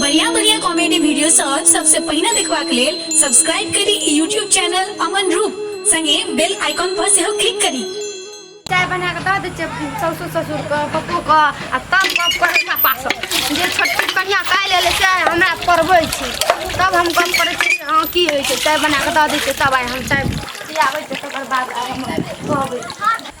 बढ़िया बढ़िया comedy video सब सबसे पहिने देखबाक लेल सब्सक्राइब करी ई यूट्यूब चैनल अमन रूप संगे बेल आइकॉन पर सेहो क्लिक करी चाय बना कऽ दऽ दै छियै साउसो ससुरके पप्पोके आ तब गप करै छै पास जे छोटकी कनिया काल्हि एलै से आइ हमरा पढ़बै छै तब हम गप करै छियै से हँ की होइ छै चाय बना कऽ दऽ दै छियै तब आइ हम चाय पियाबै छियै तकर बाद आइ हम कहबै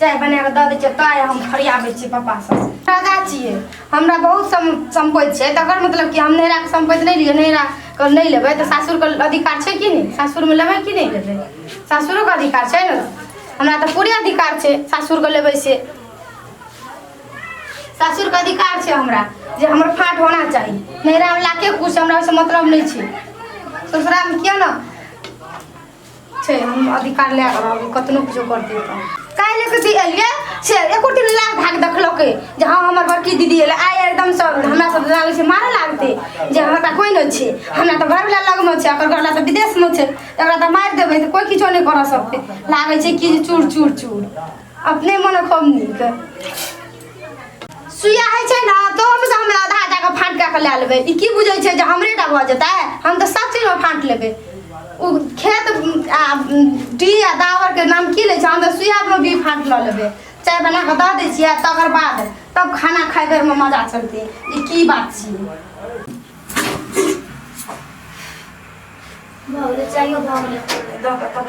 चाय बना कऽ दऽ दै छियै ताय हम फरियाबै छियै पप्पा सब राजा छियै हमरा बहुत सम सम्पति छै तकर मतलब कि हम नैहराके सम्पति नहि लिअ नैहराके नहि लेबै तऽ सासुरके अधिकार छै कि नहि सासुरमे लेबै कि नहि लेबै सासुरोके अधिकार छै ने हमरा तऽ पूरे अधिकार छै सासुरके लेबै से सासुरके अधिकार छै हमरा जे हमर फाट होना चाही नैहरामे लाके खुश हमरा ओहिसँ मतलब नहि छै ससुरालमे किया ने छै हम अधिकार लए कऽ रहबै कतनो किछो करतै तऽ काल्हि एक दिन एलियै से एको दिन लाल भए कऽ देखलकै जे हँ हमर बड़की दीदी एलै आइ एकदम सब हमरा सब लागै छै मारऽ लागतै जे हमरा तऽ कोइ नहि छै हमरा तऽ घरवला लगमे छै ओकर घरवला तऽ विदेशमे छै एकरा तऽ मारि देबै तऽ कोइ किछो नहि करऽ सकतै लागै छै कि जे चूर चूर चूर अपने मन खूब नीक सुइया है छै ना तो हम से हमरा आधा आधा के फाट के ले लेबे ई की बुझै छै जे हमरे टा भ जेतै हम तो सब चीज में फाट लेबे उ खेत आ डी आ दावर के नाम की ले छै हम तो सुइया में भी फाट ल लेबे चाय बना के द दै छियै तकर बाद तब खाना खाए बेर में मजा चलते ई की बात छियै भऽ गेलै चाहियो भऽ गेलै दऽ कऽ तब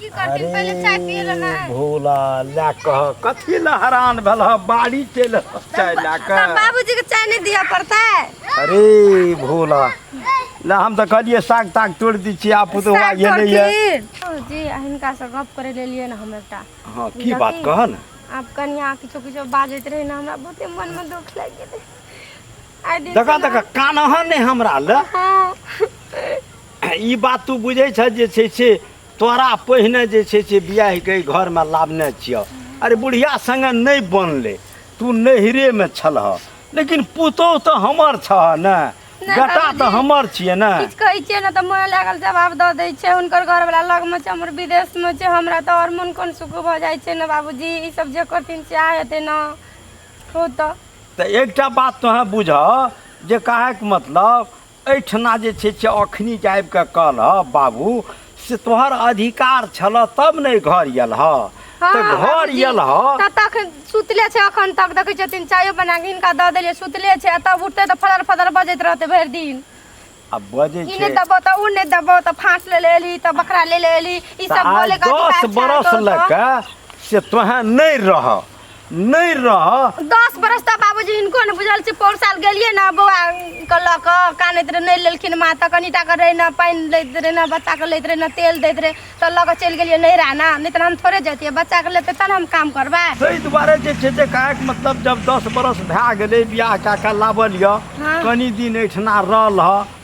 की करथिन पहिले चाय पिए ला ना अरे भोला ला कह कथी ला हरान भेल ह बाड़ी चल चाय ला तब कह बाबूजी के चाय नहीं दिया पड़ता है अरे भोला ला हम तो कहलिए साग ताग तोड़ दी छी आप तो हुआ ये नहीं है जी हिनका से गप करे ले लिए ना हम एकटा हाँ की बात कह न आब कनिया किछो किछो बाजैत रहे ना हमरा बहुते मन में दुख लागि गेलै आइ दिन दका से ना- दका कान हन ने हमरा ले हाँ ई बात तू बुझै छह जे छै से तोरा पहिने जे छै से बियाह के घरमे लाबने छियह अरे बुढ़िया संगे नहि बनले तू नहिरे में छलह लेकिन पुतोह तऽ हमर छह ने नहि बेटा बाबूजी। तऽ हमर छियै ने किछु कहै छियै ने तऽ मोन लागल जवाब दऽ दै छै हुनकर घरवला लगमे छै हमर विदेशमे छै हमरा तऽ आओर मोन कोन सुख भऽ जाइ छै ने बाबूजी ई सब जे करथिन सएह हेतै ने हो तऽ तऽ एकटा बात तोहें बुझह जे कहैके मतलब एहिठिना जे छै से अखनी जे आबि कऽ कहलह बाबू से तोहर अधिकार छलह तब ने घर यलह हँ, तऽ घर बाबूजी, यलह तऽ तखन सुतले छै अखन तक देखै छथिन चायो बना कऽ हिनका दऽ देलियै सुतले छै आ तब उठतै तऽ फड़र फदर बजैत रहतै भरि दिन आ बजै ई छै नहि देबो तऽ ओ नहि देबो तऽ फाँस ले ले एली तऽ बकरा ले ले एली ई तऽ सब आइ बोले का दस अधिकार छै बरस तोहर लऽ तऽ। कऽ से तोहें नहि रह नहीं रह दस बरस तक बाबूजी इनको ने बुझल छै पौर साल गेलिए ना बौआ के लऽ कऽ कानैत रहे नहीं लेलखिन माँ तऽ कनिटा के रहे ना पानि लैत रहे ना बच्चा के लैत रहे ना तेल दैत रहे तऽ लऽ कऽ चलि गेलिए नैहरा ना नहीं तऽ हम थोड़े जैतिए बच्चा के लेते तब हम काम करबै ताहि दुआरे जे छै से कहैक मतलब जब दस बरस भए गेलै बियाह कए कऽ लाबल यऽ हँ। कनि दिन एहिठिना रहल हँ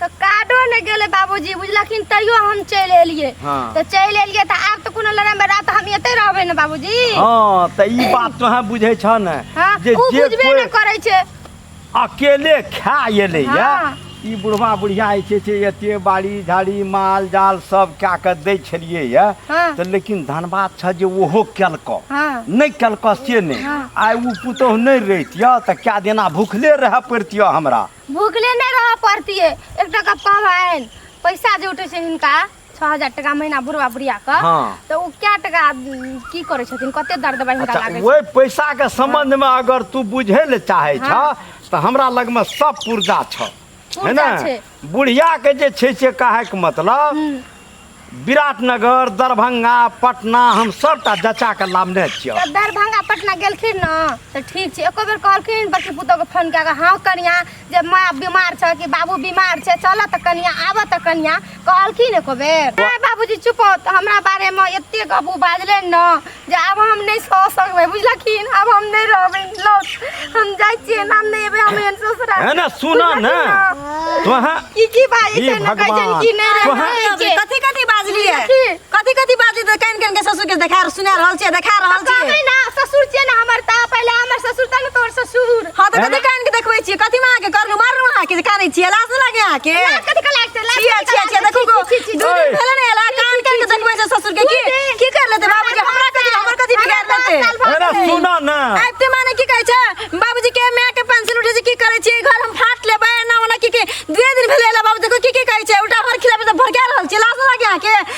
तऽ काटो नहि गेलै बाबूजी बुझलखिन तैयो हम चलि एलियै हँ। तऽ चलि एलियै तऽ आब तऽ कोनो लड़ाइ बड़ा तऽ हम एते रहबै ने बाबूजी हाँ तऽ ई बात तोहें बुझै छ ने हाँ, जे ओ जे बुझबे कोइ नहि करै छै अकेले खा एलै या हाँ। ई बुढ़वा बुढ़िया जे छै से एते बाड़ी झाड़ी माल जाल सब कए कऽ दै छलियै या हाँ। तऽ लेकिन धनबाद छ जे ओहो केलकऽ हाँ। नहि केलकऽ से नहि हाँ। आइ ओ पुतोहु नहि रहितियऽ तऽ कए दिना भुखले रहए पड़ितियऽ हमरा भूखले नहि रहऽ पड़तियै एक टाका पाबनि पैसा जे उठै छै हिनका छओ हजार टाका महीना बुढ़वा बुढ़िया के हाँ। तऽ ओ क्या टाका उम, की करै छथिन कते दर दबाइ हिनका अच्छा लागै छै ओहि पैसा के संबंध में अगर तू बुझे ले चाहे छ हाँ। तो हमरा लग में सब पुर्जा छ है पुर्जा ना छै। बुढ़िया के जे छै से कहे के मतलब विराटनगर दरभंगा पटना हम सबटा जचा के लामने छियै जब दरभंगा पटना गेलखिन न तऽ ठीक छै एको बेर कहलखिन बड़की पुतोहके फोन कए कऽ हँ कनिया जे माँ बीमार छै कि बाबू बीमार छै चलऽ तऽ कनिया आबऽ तऽ कनिया कहलखिन एको बेर नहि बाबूजी चुप हो, तऽ हमरा बारेमे एते गबू बाजले न जे आब हम नहि सह सकबै बुझलखिन आब हम नहि रहबै लौट हम जाइ छियै नाम नहि एबै हम एहन ससुरा है ना सुना ना तोहा की की बाजै हे छै ना कहै छै भगवान। कि नहि तोहर- रहबै अरे अभी कथी कथी बाजलिए की? कथी कथी बाजली तऽ कान कान के ससुर के देखा सुना रहल छियै देखा रहल कहबै छियै ना ससुर छियै ना हमर ता पहिले हमर ससुर ता ना तोर ससुर हाँ तऽ कथी कान के देखबै छियै कथी माँ के करलू मारलू अहाँ के जे कानै छियै लाज नहि लागे अहाँ के लाज कथी के लागतै लाज छियै छियै छियै देखू गो दू दिन भेलै ने एला कान कान के देखबै छै ससुर के की की कर लेतै बाबू के हमरा कथी हमर कथी बिगाड़ लेतै अरे सुना ना आबते माने की कहै छै बाबूजी के माय के पेंसिल उठे छै की करै छियै घर हम फाट लेबै ना ओना की के दुए दिन भेलै एला बाबू देखो की की कहै छै उल्टा भर खिलाबै तऽ भर गेल रहल छै लाज नहि लागे अहाँ के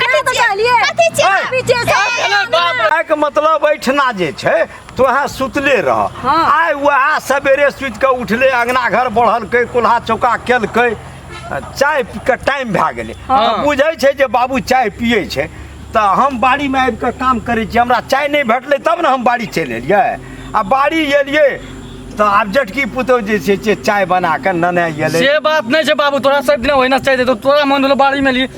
कथी तऽ कहलिए कथी छी अहाँ? पीछे से अरे बाप रे। आइके मतलब एहिठिना जे छै तो अहाँ सुतले रह हाँ। आइ वएह सवेरे सुति कऽ उठले अङ्गना घर बढ़लकै कुल्हा चौका केलकै आ चाय पी कऽ टाइम भए गेलै हाँ। आ बुझै छै जे बाबू चाय पियै छै तऽ हम बाड़ीमे आबि कऽ काम करै छी हमरा चाय नहि भेटलै तब ने हम बाड़ी चलि एलियै आ बाड़ी एलियै तऽ आब जटकी पुतहु जे छै से चाय बना कऽ नने एलै से बात नहीं छे बाबू तोरा सब दिन ओहिना चाहिए तो तोरा मन होलो बाड़ी में ली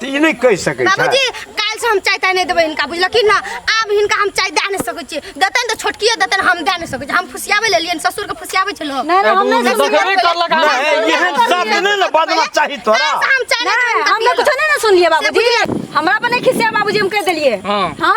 तऽ ई नहि कहि सकै छै बाबूजी काल्हि से हम चाय ताय नहि देबै हिनका बुझलखिन ना आब हिनका हम चाय दए नहि सकै छियै देतनि तऽ छोटकिए देतनि हम दए नहि सकै छियै हम फुसियाबै ले एलियनि ससुरके फुसियाबै छै लोक नहीं नहीं हम नहीं तो देखबे करलक आब। नहि एहन शब्द नहि ने बजबाक चाही तोरा काल्हि से हम चाय नहि देबै नहीं हिनका हम पियला। कुछ नहीं ना सुन लिए बाबूजी हमरा पर नहीं खिसिया बाबूजी हम कह दिलिए हाँ। हाँ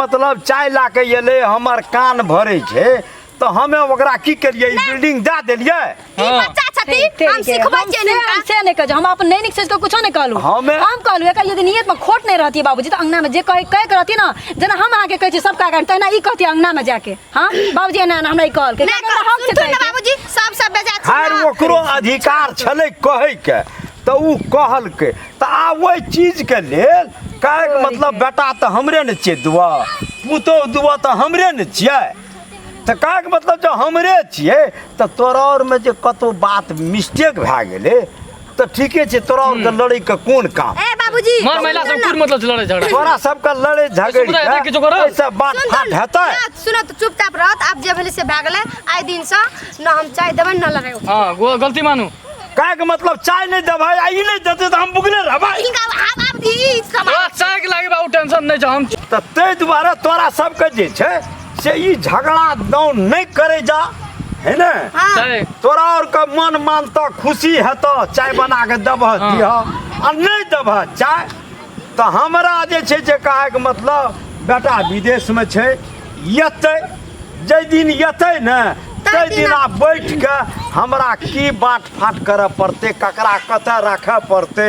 मतलब चाय ला के एले हमर कान भरे छै तो हमें ओकरा की करिए बिल्डिंग दे देलिए ई हाँ। बच्चा छथि ते- हम ते- सिखबै हम छियै से- हिनका से नहि कहै हम अपन नहि नीक सोचि कऽ कुछो नहि कहलहुँ हमे- हम कहलहुँ एकर यदि नियतमे खोट नहि रहतियै बाबूजी तऽ अङ्गनामे जे कहै कहैके रहतियै ने जेना हम अहाँके कहै छी सबके आगाँ तहिना ई कहतियै अङ्गनामे जाके हाँ बाबूजी एना एना हमरा ई कहलकै ना किएक तऽ हम सुनथुन चेतै ना बाबूजी सब सब बेजा खैर ओकरो अधिकार छलै कहैके तऽ ओ कहलकै तऽ आब ओहि चीजके लेल कहैके मतलब बेटा तऽ हमरे ने छियै दुआ पुतहु दुआ तऽ हमरे ने छियै तऽ कहैके मतलब जे हमरे छियै तऽ तोरा आओरमे जे कतहु बात मिस्टेक भए गेलै तो ठीके छे तोरा और के लड़े के कोन काम ए बाबूजी मार महिला सब कुछ मतलब लड़े झगड़ा तोरा सब के लड़े झगड़े सुन रहा है, देख के जो करो। ऐसा बात सुन फाट तो- हेतै ना, सुनो तो चुपचाप रहत आप जे भेले से भागले आइ दिन से न हम चाय देबे न लड़े हां गो- गलती मानू का के मतलब चाय नहीं देबै आ ई नहीं देते तो हम बुगले रहबै इनका आप आप ई समाज तोरा चाय के लागे बाबू टेंशन नहीं छ हम त तै दुआरे तोरा सब के जे छै से ई झगड़ा दौड़ नहीं करे जा है ने छै तोरा और के मन मानता खुशी हेता चाय बना के दबह हाँ। दिह आ नहीं दबह चाय तो हमरा जे छै जे कहे के मतलब बेटा विदेश में छै यते जै दिन यते ने तै दिन आ बैठ के हमरा की बात फाट करऽ पड़ते ककरा कतऽ राखऽ पड़ते